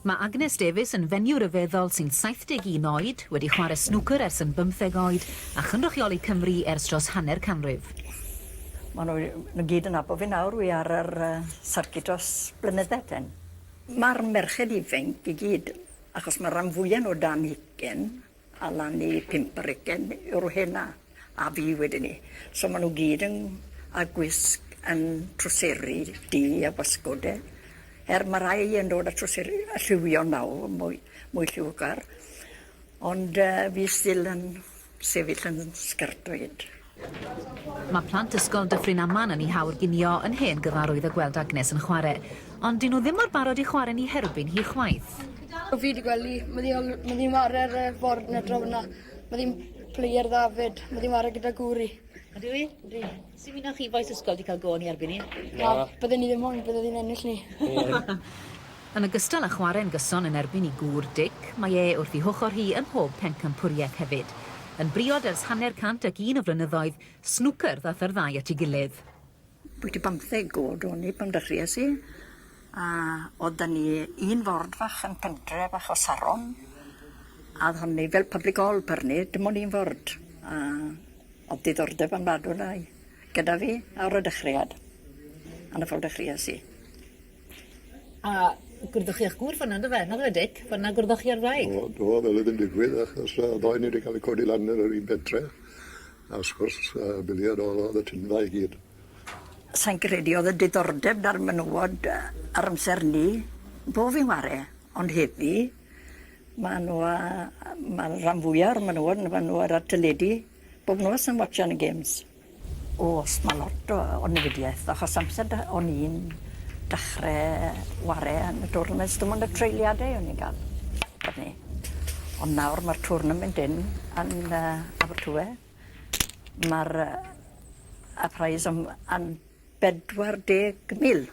Mae Agnes Davies yn fenyw ryfeddol sy'n 71 oed, wedi chwarae snwcer ers yn bymtheg oed a chynrychioli Cymru ers dros hanner canrif. Mae nhw i gyd yn nabod fi nawr, wi ar yr uh, sarcid dros blynyddau ten. Mae'r merched ifanc i gyd, achos mae'r rhan fwyaf nhw dan hugen, Allan i pump bregyn yw'r rheina, a fi wedyn 'ny. So ma' nw gyd yn a gwisg yn trwseri du a gwasgwd de. Er ma' rai yn dod â trwseri yy lliwio nawr mwy mwy lliwgar ond yy fi still yn sefyll yn sgertoid. Mae plant ysgol Dyffryn Aman yn i hawr ginio yn hen gyfarwydd o gweld Agnes yn chware. Ond dyw nhw ddim mor barod i chware ni herbyn hi chwaith. O fi di gweld hi, ma ddi ol- ma ddi'n ware ar y ford na draw yna. Ma ddi'n player dda fyd, ma ddi'n ware gyda gŵr i. Ydyw i? Ydy. Sy'n mynd â chi bois ysgol di cael go ni erbyn hi? Na, bydden ni ddim moyn, bydde ddi'n ennill ni. Yn ogystal â chwarae'n gyson yn erbyn ei gŵr, Dic, mae e wrth ei hochr hi ym mhob pencampwriaeth hefyd. Yn briod ers hanner cant ac un o flynyddoedd, snwcer ddaeth yr ddau at ei gilydd. Bwyty bymtheg o'd o'n i pan dechreuais i, a o'dd 'da ni un ford fach yn pentre fach o Saron, a o'dd honni fel public hall per ni, dim on' un ford, a o'dd diddordeb ofnadw 'na i gyda fi ar y dechreuad, a 'na ffordd dechreuais i. A gwrdoch chi â'ch gŵr fanna yndyfe? Nag yfe Dic? Fanna gwrdoch chi â'r wraig? O do fel o'dd yn digwydd achos yy y ddou o ni 'di ca'l 'u codi lan yn yr un bentre a wrth gwrs yy Billy a Nora o'dd y tynfa i gyd. Sai'n credu o'dd y diddordeb 'da'r menywod yy ar amser 'ny, bo fi'n ware, ond heddi ma' nw yy yy ma'r ran fwya o'r menywod ma' nw ar y teledu. Bob nos yn watsio yn y gyms. O's ma lot o o newidiaeth achos amser da- o'n i'n dachre ware yn y twrnaments dim ond y treuliade o'n i'n ga'l o'n i. Ond nawr ma'r twrnament 'yn yn yy Abertawe. Ma'r yy y prize am am bedwar deg mil.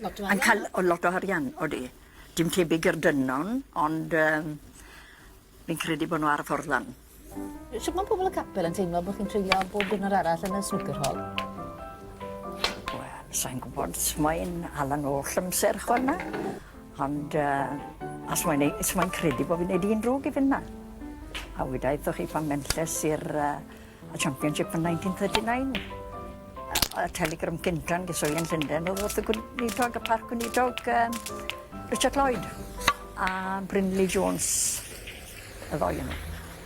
Lot o arian. Yn ca'l o lot o arian odi. Dim tebyg i'r dynon ond yym fi'n credu bo' n'w ar y ffordd lan. Shwt ma' pobol y capel yn teimlo bo' chi'n treulio bob diwrnod arall yn y snwcer hol? Wel sai'n gwbod os mae'n Alan oll amser ch'wel' na ond yy os mae'n ei- os mae'n credu bo' fi'n neud un drwg i fyn' 'na. A weda i 'tho chi pan mentes i'r yy y Championship yn 1939. Y telegram gyntaf yn geswyli yn Llundain oedd wrth y gweinidog, y parc gweinidog um, Richard Lloyd a Brindley Jones, y ddoi yno.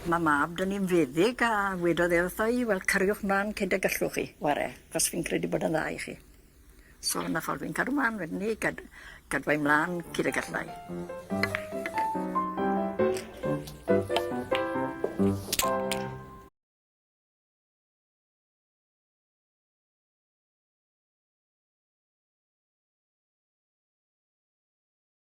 Mae mab dyn ni'n feddyg a wedodd e wrtho i, wel cariwch mlaen cyd y gallwch chi, ware, cos fi'n credu bod yn dda i chi. So na ffordd fi'n cadw mlan wedyn 'ny gad- gadwa i mlan cyd y gallai.